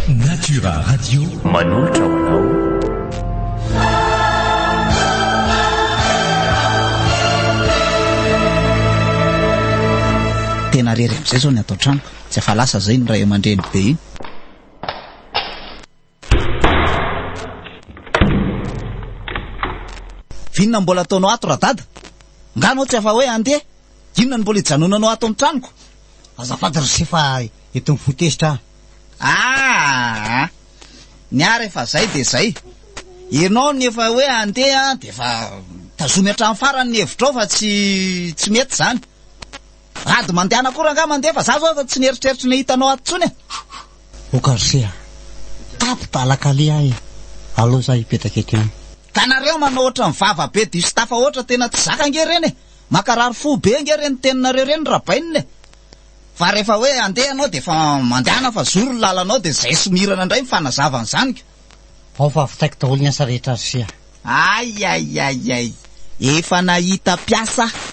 Natura Radio manolotra ho anao tena rery amin'izay zao ny ato an-trano tsy afa lasa zay ny ray aman-dreny be iny Vinona no mbola ataonao ato radada? Nga anao tsy afa-hoe handeha? Inona no mbola ijanonanao ato amin'ny tranoko? Azafady ry se fa eto mifoha tezitra aho. Aa! Ny ahy rehefa izay dia izay. Ianao no efa hoe handeha dia efa tazomy hatramin'ny farany ny hevitrao fa tsy tsy mety izany. Mpivady mandehana akory angaha mandeha fa za zao aza tsy nieritreritra ny hahita anao ato tsony e! Okarsia, tato Balakali aho e! Aleo za hipetraka eto ihany. Ka nareo manao ohatran'ny vava be diso tafahoatra tena tsy zaka ange reny e! Mankarary fo be ange reny teninareo reny rabainina e! Fa rehefa hoe andeha ianao dia efa mandehana fa zoro ny lalanao dia zay somirana indray ny fanazavany zaniko. Ao fa vitaiko daholo ny asa rehetra ry Sia. Ay ay ay ay! Efa nahita mpiasa aho!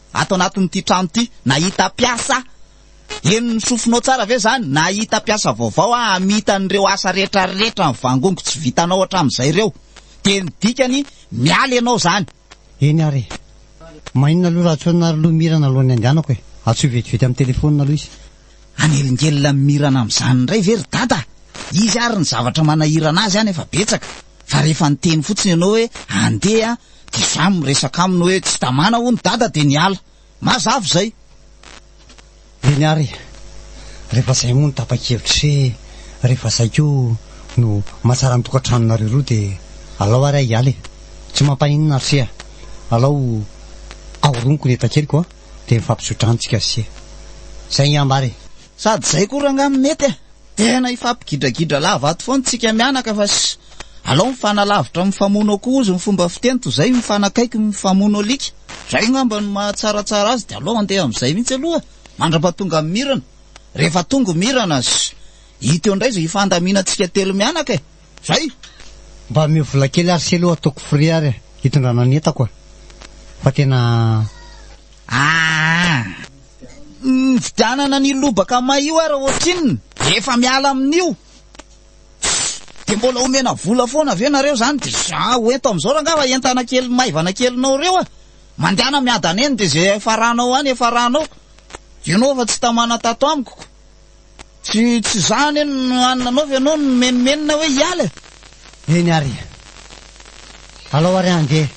Ato anatin'ity trano ity, nahita mpiasa? Heno ny sofinao tsara ve izany? Nahita mpiasa vaovao aho hamita an'ireo asa rehetrarehetra nivangongo tsy vitanao hatramin'izay ireo. Dia ny dikany, miala ianao izany. Eny ary e! Mainona aloha raha tsy hoe naroloha mira naloan'ny andehanako e! Antsoy vetivety amin'ny telefaonina aloha izy. Hanelingelina amin'ny mirana amin'izany indray ve ry Dada? Izy ary ny zavatra manahirana azy any efa betsaka fa rehefa niteny fotsiny ianao hoe andeha dia samy miresaka aminy hoe tsy tamana hono Dada dia niala. Mazava izay. Eny ary e! Rehefa izay moa no tapa-kevitra sy rehefa izay koa no mahatsara ny tokantranonareo roa dia alao ary aho hiala e! Tsy mampaninona ry se a! Alao ahoroniko ny entakeliko a! Teny fampitso-drantsika se. Zay ngy ambara e. Sady zay koa rangah no mety e. Tena hifampigidradgidra lava ato foana tsika mianaka fa sy alao mifanalavitra mifamono akoho ozy ny fomba fiteny toy zay mifanakaiky mifamono alika. Zay ngamba no mahatsaratsara azy de alao andeha amzay mihitsy aloha e. Mandrapatonga ny mirana. Rehefa tongo mirana sy hita eo ndray zay hifandaminantsika telo mianaka e. Zay! Mba ameo vola kely ary selo ataoko frais ary hitondrana ny entako ah! Fa tena aah! Nividianana an'io lobaka may io ary ohatrinona? Rehefa miala amin'io dia mbola omena vola foana ve nareo zany dia za ho ento amin'izao rangava entana kely maivana kelinao reo ah! Mandehana miadana eny dia ze efa ranao any efa ranao! Ianao efa tsy tamana tato amiko ko! Tsy tsy izany anie no any nanaovy ianao no nimenomenona hoe hiala e! Eny ary e! Alao ary handeha!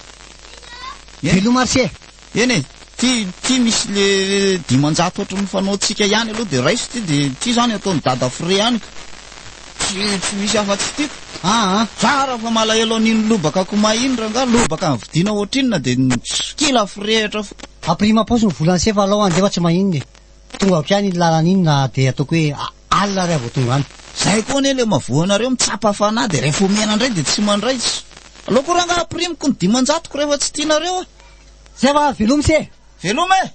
Veloma ry se! Eny e! Ity ity misy le dimanjato ohatry ny fanaontsika ihany aloha dia raiso ity dia ity izany ataon'i dada frais any ka! Tsy tsy misy afa-tsy ity ka! Aa! Tsara fa malahelo an'iny lobaka komay iny rangaha, lobaka nividiana ohatr'inona dia kila firehitra foana! Ampirimo am-paosy ny volan'i se fa alao handeha fa tsy maninona e! Tonga avy any iny lalana iny na dia ataoko hoe alina ary aho vao tonga any. Zay koa anie le mavoa anareo mitsapa fanahy de rehefa omena ndray de tsy mandray tsy. Aleo ko ranga ampirimiko ny dimanjatoko rehefa tsy tianareo a. Zay fa velomy se. Veloma e!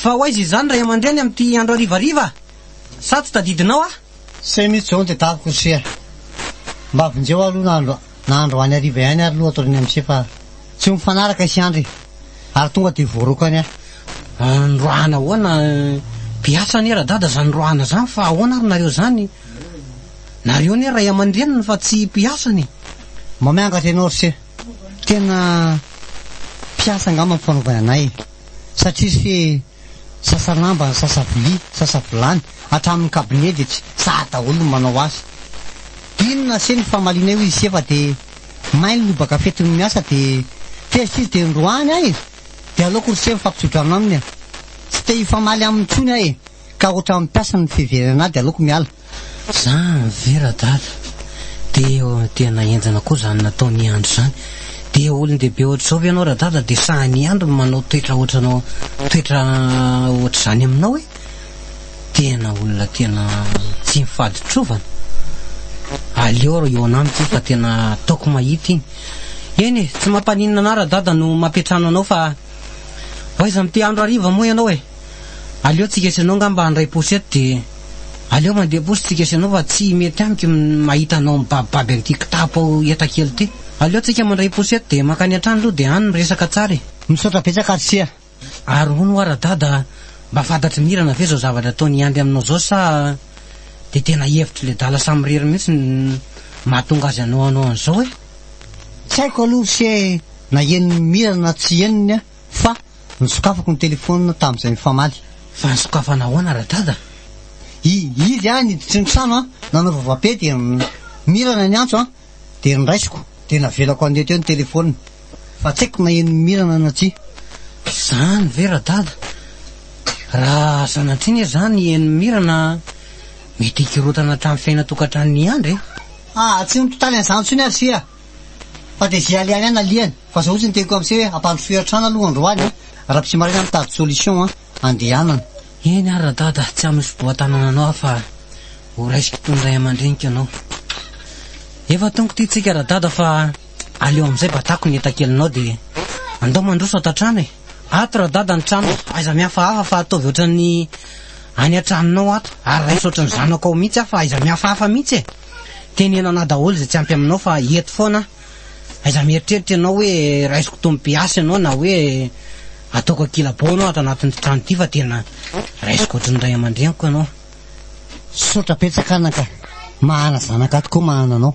Fa ho aiza izany ray aman-dreny amin'ity andro harivariva? Sa tsy tadidinao aho? Say mihitsy izao ny tetaviko ry se a! Mba vonjeo aloha na andro na andro any hariva ihany ary aloha atorian'ny am'se fa tsy ho mifanaraka isy andry ary tonga dia voarokany aho. Androahana ahoana? Beasa anie radada izany androahana izany fa ahoana ary nareo izany? Nareo anie ray aman-dreniny fa tsy mpiasany e! Mba miangatra ianao ry se! Tena mpiasa angamba ny fanaovany anay satria se sasa lamba, sasa vilia, sasa vilany, hatramin'ny cabinet dia tsy sahy daholo ny manao azy. Inona se ny famalianay hoy ise fa dia may ny lobaka fetiny miasa dia tezitra izy dia indroany ahy dia aleoko ry se mifampitsodrano aminy e! Tsy te hifamaly aminy intsony aho e! ka otrany mpiasa ny fiverenana ady aloako miala. Zany ve radada de tena enjana koa zany nataon'i Andry zany de olon-dehibe ohatr'izao ve ianao radada de sahin'i Andry manao toetra ohatranao toetra ohatr'izany aminao e tena olona tena tsy mifady trovana aleo ry eo anamiko io fa tena ataoko mahita iny eny e tsy mampaninona anah radada no mampiantrano anao fa oaiza amin'ity andro hariva moa ianao e Aleo tsika sy anao ngamba handray posy eto dia aleo mandeha posy tsika sy anao fa tsy mety amiko ny mahita anao mibabibaby an'ity kitapo ao eta kely ity. Aleo tsika mandray posy eto dia mankany an-trano aloha dia any miresaka tsara e. Misaotra betsaka ry Sia. Ary hono ho'a Radada a, mba fantatr'i Mirana ve zao zavatra ataon'i Andry aminao zao sa dia tena hevitry le dala samirery mihitsy no mahatonga azy hanao anao an'izao e? Tsy haiko aloha ry Sia e, na henon'i Mirana na tsy henony an. Fa nosokafako ny telefaonina tamin'izay mifamaly. Fa nisokafana ahoana Radada? I, izy aho niditra ny trano an, nanao vava-pe dia Mirana ny antso an, dia noraisiko, dia navelako handeha teo ny telefaonina. Fa tsy haiko na henon'i Mirana na tsia. Izany ve Radada? Raha sanatria anie izany henon'i Mirana an, mety hikorontana hatramin'ny fiainan-tokantranon'i Andry e. Aah, tsy nitotaly an'izany intsony aho ry Sia. Fa dia zay alehany any alehany fa zao tsy niteny koa amse hoe ampandrosoy atrany aloha androany an! Raha psy maraina mitady solution an! Andehanana. Eny ary radada tsy amin'ny fiboatanana anao aho fa ho raisiko toy ny ray amandreniko ianao. Efa tongo ty tsika radada fa aleo amizay batako ny entakelinao dia andao mandroso ato antrano e. Ato radada ny trano aiza mihafahafa fa ataovy ohatran'ny any antranonao ato ary raiso ohatran'ny zanako ao mihitsy aho fa aiza mihafahafa mihitsy e. Teneno anah daholo izay tsy ampy aminao fa eto foana aho. Aiza mieritreritra ianao hoe raisiko tompiasa ianao na hoe ataoko ankilabao ianao ato anatin'ity trano ity fa tena raisiko ohatry ny ray aman-dreniko ianao. Misaotra betsaka anaka. Mahana zanaka tokoa mahana anao.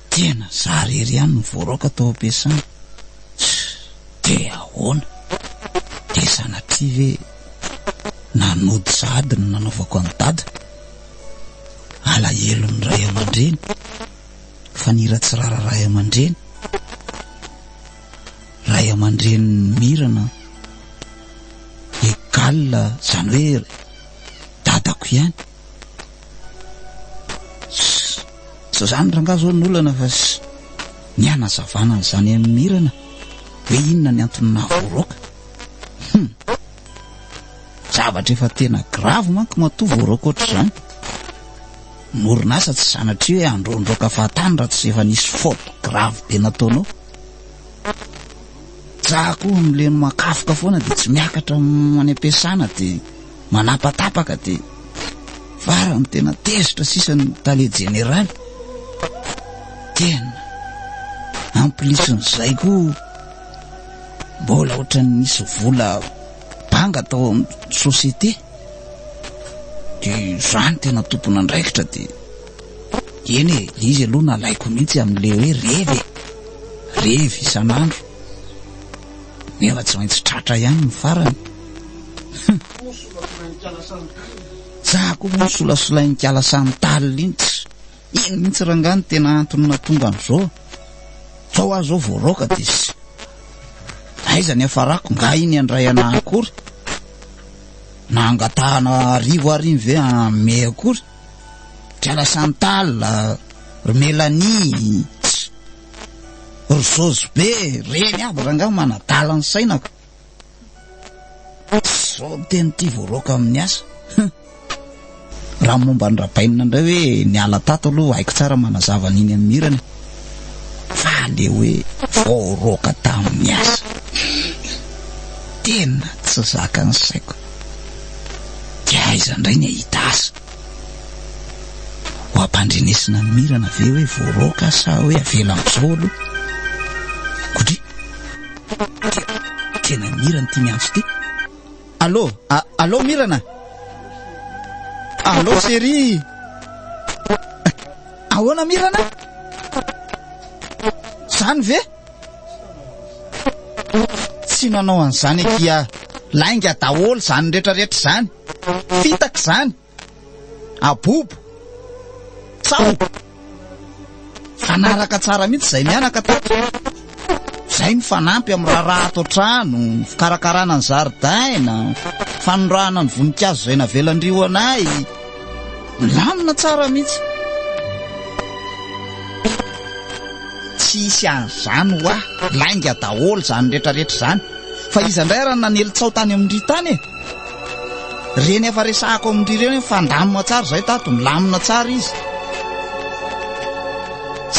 Tena za rery ihany no voaraoka tao ampiasana tch! de ahoana? de sanatria ve na nody sa ady no nanaovako an'i dada? alahelon'ny ray aman-dreny fa ny hira tsy rara ray aman-dreny, ray aman-drenin'i mirana egal zany hoe dadako ihany. Zao zany rangaha zao ny olana fa ny hanazavana an'izany amin'ny mirana hoe inona ny antony nahavoaroaka. Hum. Zavatra efa tena grave manko matoa voaroaka ohatr'izany. Ny orinasa tsy zanatry hoe handroandroaka fahatany raha tsy efa nisy faute grave be nataonao. Za koa mileno makafoka foana dia tsy miakatra any am-piasana dia manapatapaka dia farany tena tezitra sisa ny tale jeneraly tena amplisin'izay koa mbola ohatran'ny nisy vola banga tao amin'ny société dia izany tena tompon'andraikitra dia eny e dia izy aloha nalaiko mihitsy amin'ilay hoe revy e revy isan'andro Nefa tsy maintsy tratra ihany ny farany. Za koa moa solasolain-kala samy talina iny tsy iny mihitsy rangaha ny tena antony natonga an'izao. Zao aho zao voaraoka dia sy aiza ny hafarako nga iny handray anah akory na hangatahana arivo ary iny ve ame akory. Kiala samy talina, ry Mélanie. Rosojo be e! Reny aby rangaha manadala ny sainako. Zao ny teny tia voaroaka amin'ny asa. Raha momba ny rabainina indray hoe niala tato aloha haiko tsara manazava an'iny amin'ny hirany. Fa le hoe voaroaka tamin'ny asa. Tena tsy zakan'ny saiko. Dia aiza indray ny hahita asa? Ho ampandrenesina ny mirana ve hoe voaroaka sa hoe avela amin'izao aloha? Kodry! Tena mirana ity miantso ity. Allô? Allô mirana? Allô chérie? Ahoana mirana? Zany ve? Tsy nanao an'izany akia lainga daholo izany rehetrarehetra izany. fitaka izany, abobo, tsaho, fanaraka tsara mihitsy izay mianaka tato. Izay ny fanampy amin'ny raharaha ato an-trano, fikarakarana ny zaridaina, fanondrahana ny voninkazo izay navelan-dry ho anay. Milamina tsara mihitsy. Tsy hisy an'izany ho ahy, lainga daholo izany rehetrarehetra izany. Fa iza indray ary nanely tsaho tany amin-dry tany e? Reny efa resahako amin-dry ireo hoe mifandamina tsara izay tato, milamina tsara izy.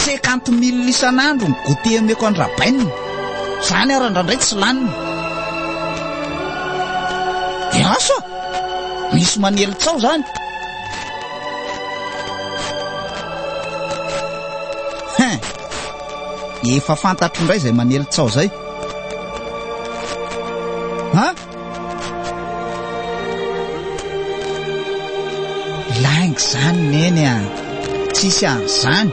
Cinquante mille isan'andro ny goûter omeko an-dRabainina. Izany ary andrandray tsy laniny. Dia eh, asa, misy manely tsaho izany. Hein, efa fantatro indray izay manely tsaho izay. Hein? Lainga zany neny a! Tsisy an'izany!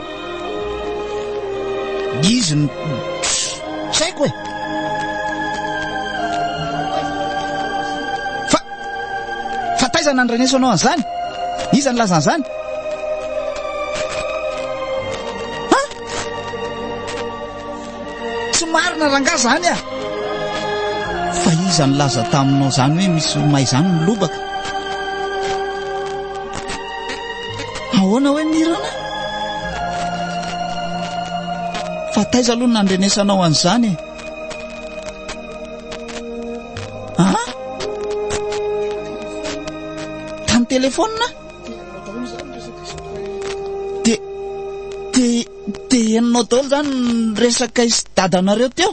Izy no tsy haiko e! Fa fa taiza nandreneso anao an'izany? Iza nilaza an'izany? Tsy marina rangah zany ah! Fa iza nilaza taminao zany hoe misy romay zany ny lobaka? Ahoana hoe mirana? Fa taiza aloha nandrenesanao an'izany e? Ah? Tany telefonina? Dia henonao daholo izany ny resaka isy dadanareo teo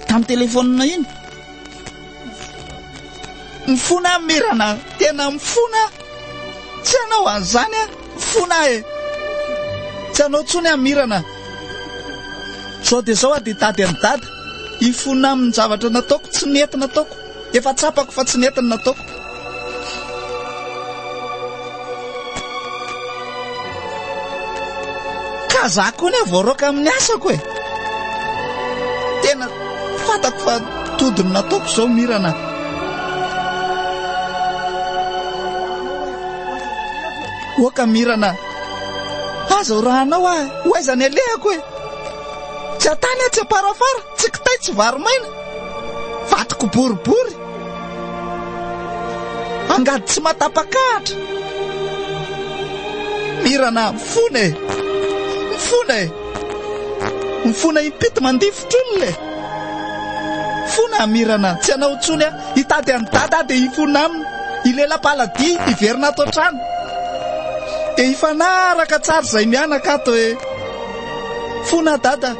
tamin'ny telefonina iny. Mifona mirana, tena mifona. Tsy anao an'izany a, mifona e. Tsy anao tsony a mirana. Zao dia zao a dia tady amin'ny dada. Hifona amin'ny zavatra nataoko, tsy nety nataoko. Efa tsapako fa tsy nety ny nataoko. Ka za koa ne voaroaka amin'ny asako e. Tena fatako fa tody ny nataoko izao mirana. Oka mirana. Aza ho rahanao ahy. Ho aiza ny alehako e. Tsy atany atsy aparafara, tsy kitay, tsy vary maina. Vadiko boribory. Angady tsy matapakahatra. Mirana mifona e. Mifona e. Mifona impito mandifotr'olona e. Fona amirana tsy anao intsony a hitady an'i dada dia hifona aminy ilela paladia hiverina ato an-trano dia hifanaraka tsara izay mianaka ato e fona dada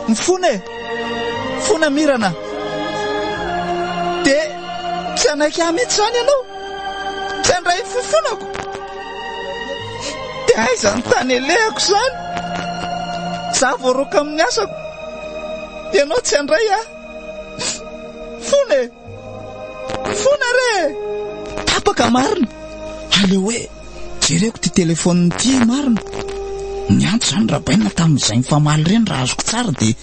Ny fona e! Fona mirana. Dia tsy hanaiky ahy mihitsy izany ianao. Tsy handray ny fofonako. Dia aiza ny tany alehako izany? Za voaroaka amin'ny asako. Ianao tsy handray ahy. Fona e! Fona re! Tapaka marina. Aleo hoe Jereko ty telephone ty marina. Niantso zany Rabaina tamin'izay nifamaly ireny raha azoko tsara dia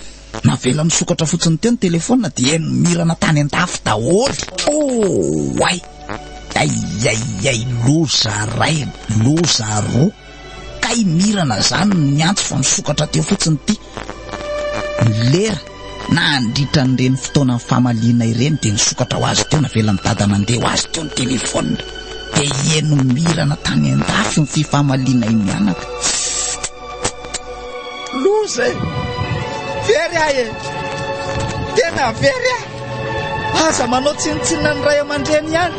navela nisokatra fotsiny teo ny telephone dia nimirana tany an-dafy daholo. Oh ay! Ay ay ay loza ray, loza roa. Kay mirana zany niantso fa nisokatra teo fotsiny ty. Ny lera nandritra an'ireny fotoanan'ny famaliana ireny dia nisokatra ho azy teo, navelan'i Dada nandeha ho azy teo ny telefaonina. Dia hihaino mirana tany an-dafy ny fifamaliana i Mianaka. Loza e! Very aho e! Tena very aho! Aza manao tsinontsinona ny ray aman-dreny ihany!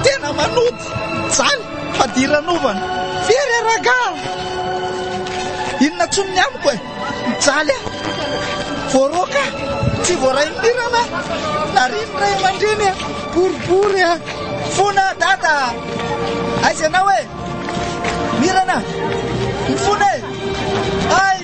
Tena manota! Mijaly! Fadiranovana! Very a ragah! Inona tsony ny amiko e! Mijaly a! Voaroaka! Tsy voaraim-pirana! Narian'ny ray aman-dreny a! Boribory a! Fona dada! Aiza ianao e! Mirana! Mifona e! Ay!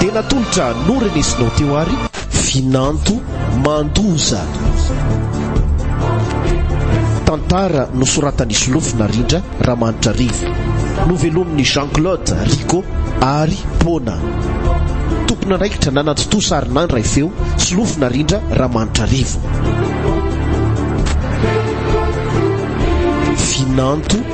Dia natolotra noho Renesy nao teo ary. Vinanto Mandoza. Tantara nosoratan'i Solofo Narindra Ramanitra Rivo. Novelomin'i Jean Claude Rico ary Pona. Tompon'andraikitra nanatontosa ary nandray feo Solofo Narindra Ramanitra Rivo. Vinanto